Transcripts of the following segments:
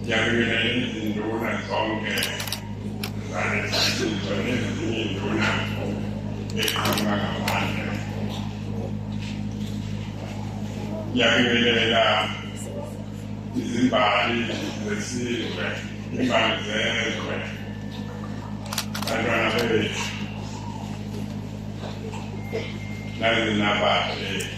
Ngiyabingelela izinduna zonke zalesisizwe nezinye induna eqhamuka ngaphandle. Ngiyabingelela izimbali zesizwe, imbali zezwe, bantwana bethu. Nalezi nabadle.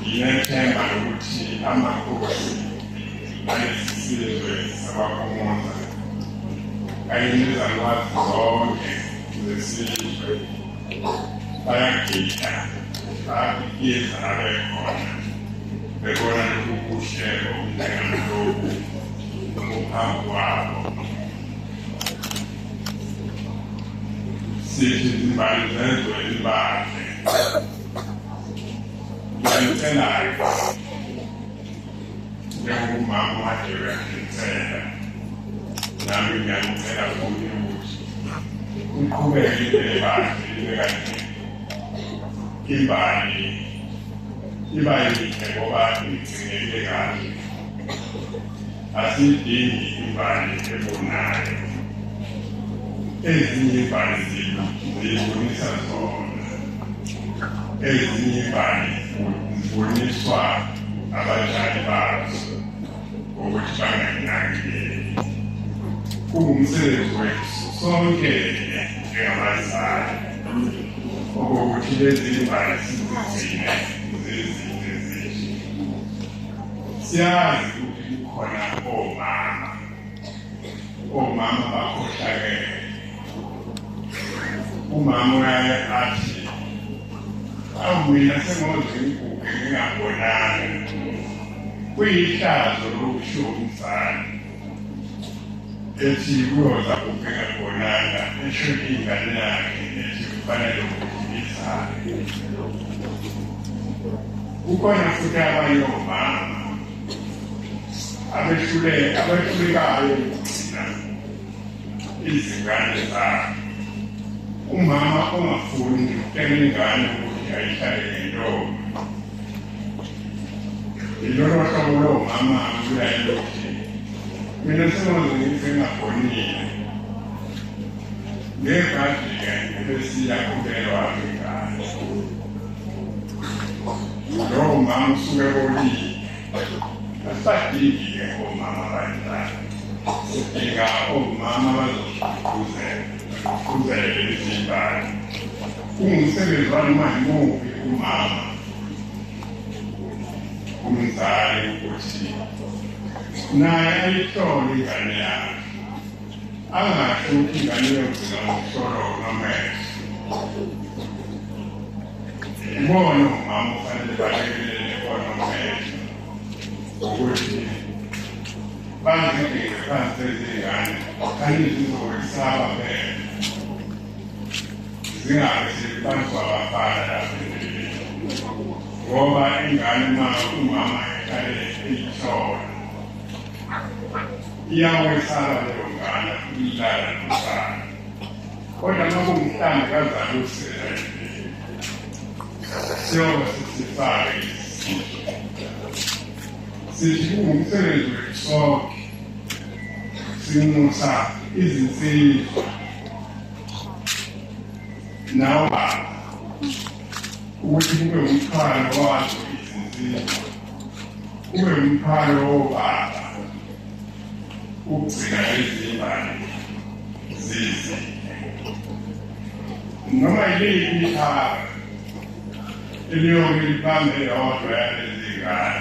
Nginethemba lokuthi amakhosi alesisizwe sabaphumuza kanye nezalwazi zonke zesizwe bayagida bayabiyenza abekhona bebona lokhu kuhle okunjengaloku ngokuphambi kwabo sithi izimbali zezwe elibandle ngiyayicelayo njengomama wadewe ngicela nami ngiyakucela kuye ukuthi uqhubeke into ebandle ibe kanje imbali iba yinhle ngoba igcineke kahle Asidingi imbali ebonayo. Ezinye imbali zethu ziyibonisa zona. Ezinye imbali ziboniswa abadlali bazo ukuthi bangakunakekeli. Kungumsebenzi wethu sonke njengabazali okokuthi lezi mbali sizigcine zizile. siyazi ukuthi kukhona omama omama bakhohlakele umama uyaye athi awu mina sengoze ngiguge ngingabonani kuyihlazo lokusho umzali ethi kuyoza kubheka kubonana esho ingane yakhe ethi kufanele ukuthi izale kukhona futhi abanye omama abehluleka abehlulekayo ukugcina izingane zabo umama ongafuni ukutshela ingane ukuthi ayihlale ngentombi Ilona hlobo lomama kuyayilothi mina sengaze ngithi ngagonile ngekade-ke ebesiya kubelwa ngengane lowo mama usuke bolile asadingi-ke omama abanjani sidinga omama bazosiguquzela Qhubele lezingane. Ungumsebenzi wani manje muphi umama? Umzali ukuthi naye ayihlole ingane yakhe. Angasho ukuthi ingane yokugcina ngokuhlolwa unamehlo. Ubona umama ufanele balekele ukuthi bangibheke phansi izingane angizizokwesaba phela zingabe sebantu abafana lapho ngoba ingane uma umama eqalele eyihlola iyakwesaba leyo ngane ilala nomfana kodwa uma kungumhlanga kazali usela sithi kungumsebenzi wethu sonke sinxusa izinsizwa nawo baba ukuthi kube umthwalo wazo izinsizwa kube umthwalo wobaba ukugcina lezi mbali zize noma yiliphi ithaka eliyoke liphambe yodwa yalezingane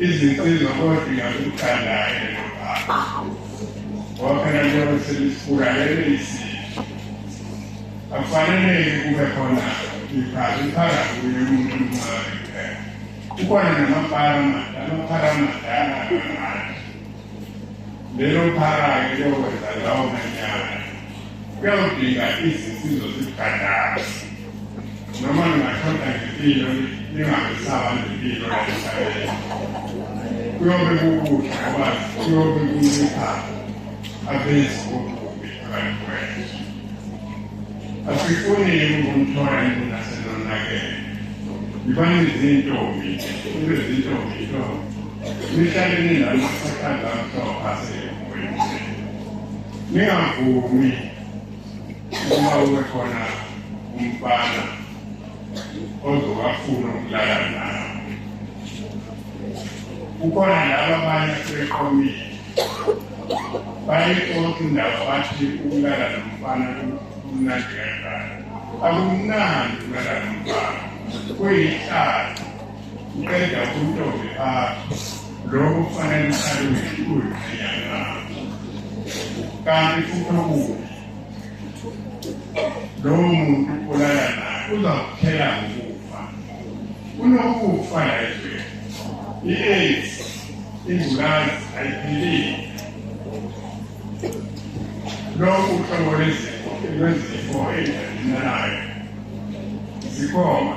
izinsizo kodinga ukuthandayo lelobaba waphela njengoba selisifuka lelo isizwe akufaneleki kube khona iphakathi iphakathi kuye umuntu omncane kuphela kukhona namapara amadala amapara amadala lelo phara-ke liyokwenza lawo manyana kuyawudinga izinsizo zibhadasi noma lingashoda ngempilo lingabisaba nempilo emhlabeni kuyobe kukuhle ngoba kuyobe kuncipha abenzi bokubi abantu kwethu asifuni ukumthola induna senonakele yibani izintombi ibe zintombi intombi Nihlale ninami sithanda mhlopha semoyeni. Ningavumi uma ube khona umfana ozowafuna ukulala nawe. Kukhona laba abanye asebeqomile bayixoxa indaba bathi ukulala nomfana kumnandi kanjani akumnandi ukulala nomfana kuyihlazo Uqeda ukuntombi phakho lokho kufanele uhlale uyishukulu ngenyanga lakho kanti futhi okubi lowo muntu olala naye uzakuphela ngokufa kunokufa la ezweni i-aids ingculazi ayiphilile lokhu uhlobo lwezifo lwezifo ezidalinanayo zikhona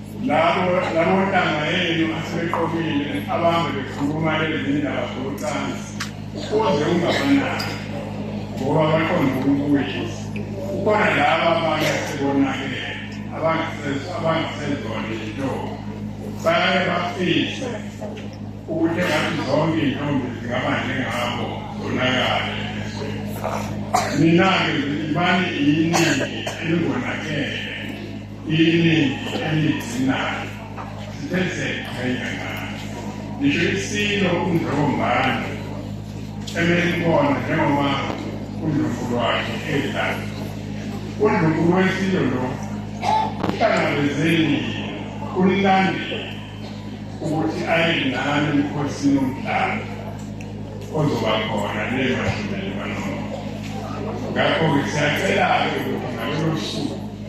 labo labo ntanga yenu asebeqomile abambe bekhuluma ezindaba zocansi kuze ungabanaki ngoba baqonda ubuyi kukhona laba abanye asebonakele abangasezona izintombi baye bafise ukuthi engathi zonke iy'ntombi zingaba njengabo zonakale mina-ke ngibani iyiningi elingonakele iningi eliyizinayo sithe siyayiqhenya ngayo ngisho isilo umdlokombane emelibona njengoba undlovu lwakhe edlala undlovu lwesilo lo uhlangabezeni ulilandile ukuthi aye nami emkhosini omhlaba ozoba khona lemashumelelwano ngakho-ke siyacela-ke ukuthi ngalolo suku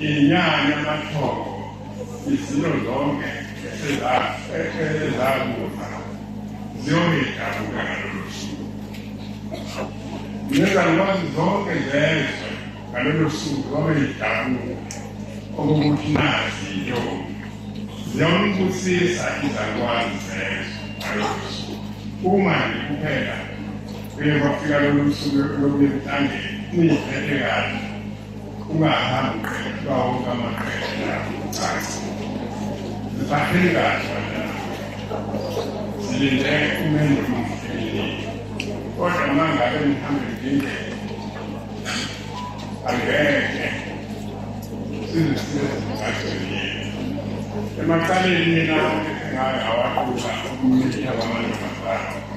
inyanya amathongo izinto zonke ezakufa ziyoyidabuka ngalolo suku nezalukwazi zonke zezwe ngalolo suku babeyidabuka okokuthi nazi intombi ziyombusisa izalukwazi zezwe ngalolo suku uma nikuphela Kuye kwafika lolu suku lokunemhlangeni niziphethe kahle ungahambi uqedwa wonke amaqesha lapho ucansi zibahleli kahle bantwana silinde umendo mfilini kodwa uma ngabe nihambe ndindlela angeke sizisizimgajweni yethu emacaleni mina ngayo awaqula umnitha wamantombazana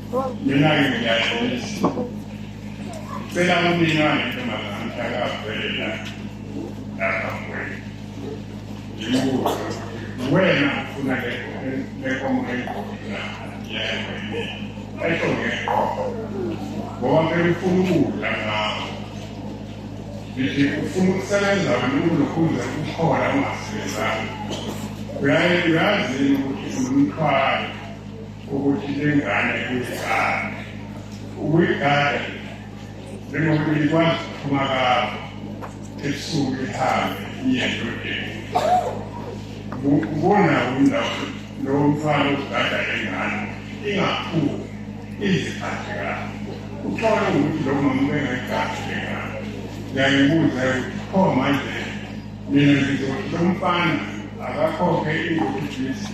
Mina-ke ngiyayisa. Cela umina ngentombazane mhlakavelela lapha kwenu. Ngibuza wena ufuna lekomo eqola yayini. Esho ngeqola. Ngoba ngeke ufuna ukudla ngawo. Ngithi ufuna ukusebenza wena ukulokhuza ukukhona ungasebenzanga. Uyaye uyazini ukuthi umthwalo ukuthi ingane kuyigane ukuyigane njengokuthi ikwazi ukuphuma kayo ebusuku ihambe iye endodeni ubona umndawo lowo mfana uzigada lengane ingaphumi iziphathe kayo uthole ukuthi lo mama ubengayigadi lengane ngiyayibuza ukuthi pho manje mina ngizothi lo mfana akakhokhe ingokudlisi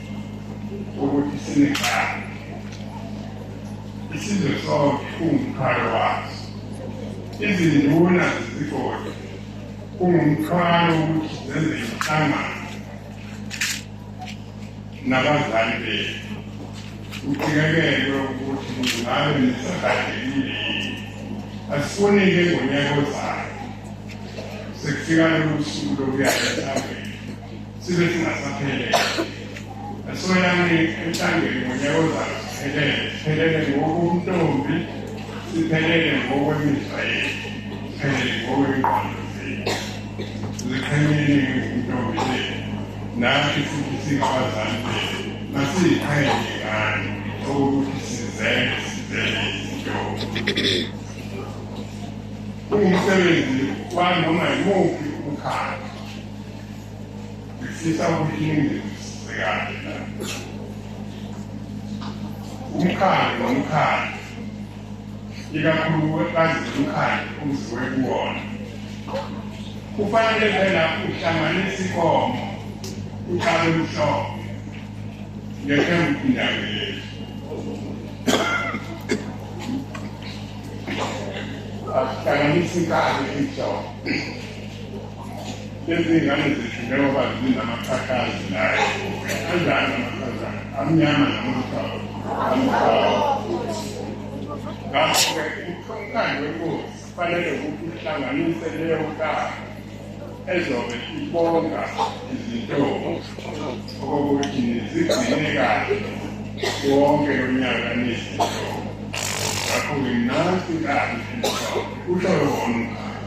ukuthi sinengane isizwe sonke ungumkhalo waso izinduna zezigodi ungumthwalo ukuthi zenze inhlangano nabazali bethu uqikelelwe ukuthi ngabe nisagadekile yini asifunike ngonyaka ozayo sekufika lolu suku lokuya esabeni sibe singasaphelele asoyane emhlangeni ngonyaka ozayo siphelele siphelele ngokuntombi siphelele ngokwemizwa yethu siphelele ngokwengqondo zethu ziqhenyele ngentombi zethu nathi futhi singabazali bethu masiyiqhenye ngani okukuthi sizele sizele izintombi kungumsebenzi wanoma yimuphi umkhakha umkhandlu nomkhandlu ikakhulu wekazi umkhandlu umziwe kuwona kufanele phela uhlanganisa ikomo uqale umhlobo ngethemba indawo yethu hlanganisa inkalo emhlophe lezi ngane zethu njengoba zinamaqhaqhazi nayo anjani amaqhaqhazi amnyama namaqhawo amqhawo ngakho-ke umkhankaso wenkosi kufanele ukuthi uhlanganise leyo nkalo ezobe ibonga izintombo okokuthi nizigcine kahle wonke lo nyaka nezintombo ngakho-ke nansi kahle usho lona umkhankaso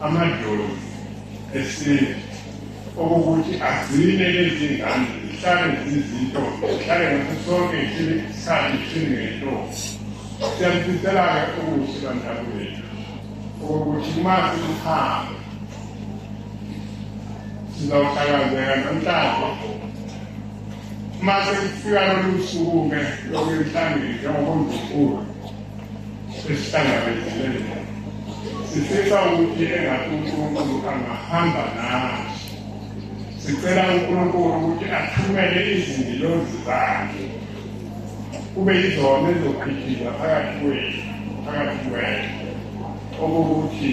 amadlozi esintu okukuthi agcine lezi ngane zihlale zizinto zihlale ngaso sonke isikhathi sinento siyalifisela-ke okuhle bantwana bethu okukuthi uma siluhambe sizawuhlakazeka namhlanje uma sekufika lolu suku-ke lokuyihlangile njengoba mdlukulu esihlangabezile sifisa ukuthi engathi uNkulunkulu angahamba nathi sicela uNkulunkulu ukuthi athumele izingilozi zakhe kube yizona ezophikhiza phakathi kwethu phakathi kwethu okokuthi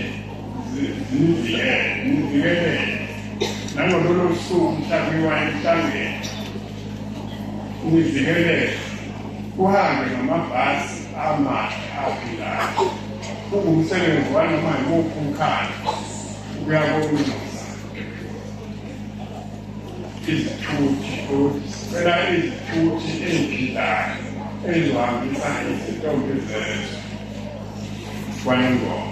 zivikele nivikelele nangololo suku mhlawumbe wayehlangene ukuvikeleka kuhambe ngamabhasi amahle aphilayo kungumsebenzi wanoma yimuphi umkhaya uyakulungisa izithuthi ukuthi sicela izithuthi eziphilayo ezizohambisa izintombi zezwe kwanengoma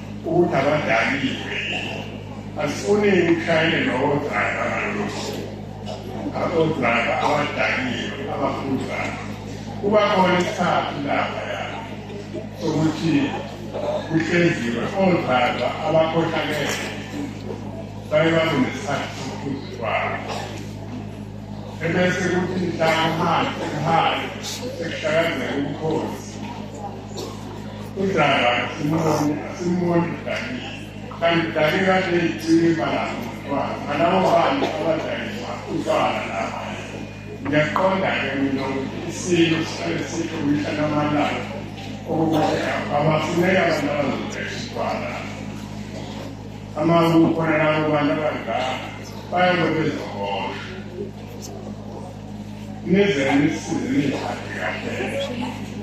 Ukuthi abadaniwe asifuni ukushayele lowo driver ngalolo suku. Abodriver abadaniwe abafuzayo. Kuba khona isikhathi lapha yabo sokuthi kuhlenziwe odriver abakhohlakele baye babe nesikhathi sokuphuza kwabo. Ebese kuthi mhlawumbe manje kuhale sekuhlakazeka umkhosi. udlala simboni udani kanti udani kade icine ibalanga umntwana ngalawo bantu abadayisa utshwala lapha ngiyaqonda-ke mina ukuthi isilo sihlale sikho mihla namalanga okukuthi abafuneka abantu abazodayisa utshwala amakukhona labo bantu abadala bayobe bezohosha Neze nisize ningiphathe kahle.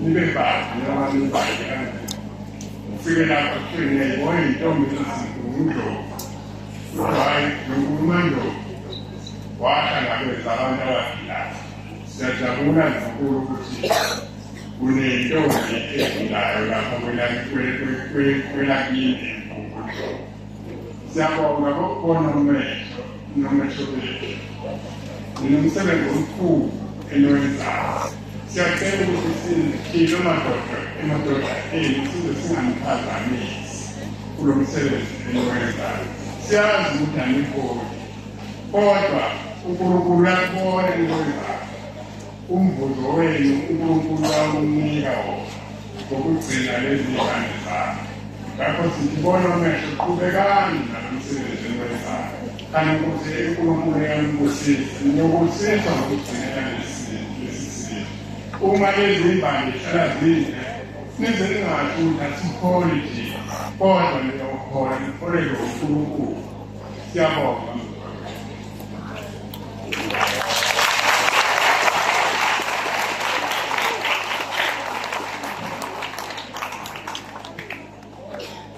Nibe bathi noma nibhale kanjani. Ufike lapho kuthiwe ngiyayibona intombi eziziphi ngundlovu. Hhayi, ngikhuluma ndlovu. Wahlangabeza abantu abagilapha. Siyajabula ngenkulu ukuthi kunentombi efundayo lapha kwelakini. Siyabonga kokukhona umehlo nomehlo bethu ninomsebenzi omkhulu eniwenzayo siyacela ukuthi siphile amadoda emadoda enu size singaniphazamisi kulo msebenzi eniwenzayo siyazi ukuthi anigoli kodwa unkulunkulu uyakubona eniwenzayo Umvuzo wenu uNkulunkulu wawunika wokugcina lezi ngane zakhe. Ngakho sibona umehlo qhubekani nalo msebenzi eniwenzayo. Kanti ukuthi uNkulunkulu uyanibusisa, niyobusiswa ngokugcinela lesi lesi simo. Uma lezi mbali zihlala zinde, nize ningasho ukuthi asikholi nje, kodwa niyokhola nikholelwe uNkulunkulu. Siyabonga.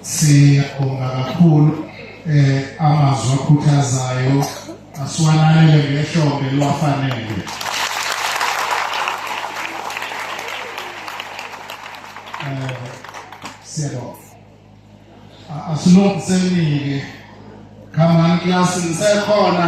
siyabonga kakhulu eh amazwi akhuthazayo asiwananele ngehlombe liwafanele eh siyabonga asilungiselike khamani klasi ngisekhona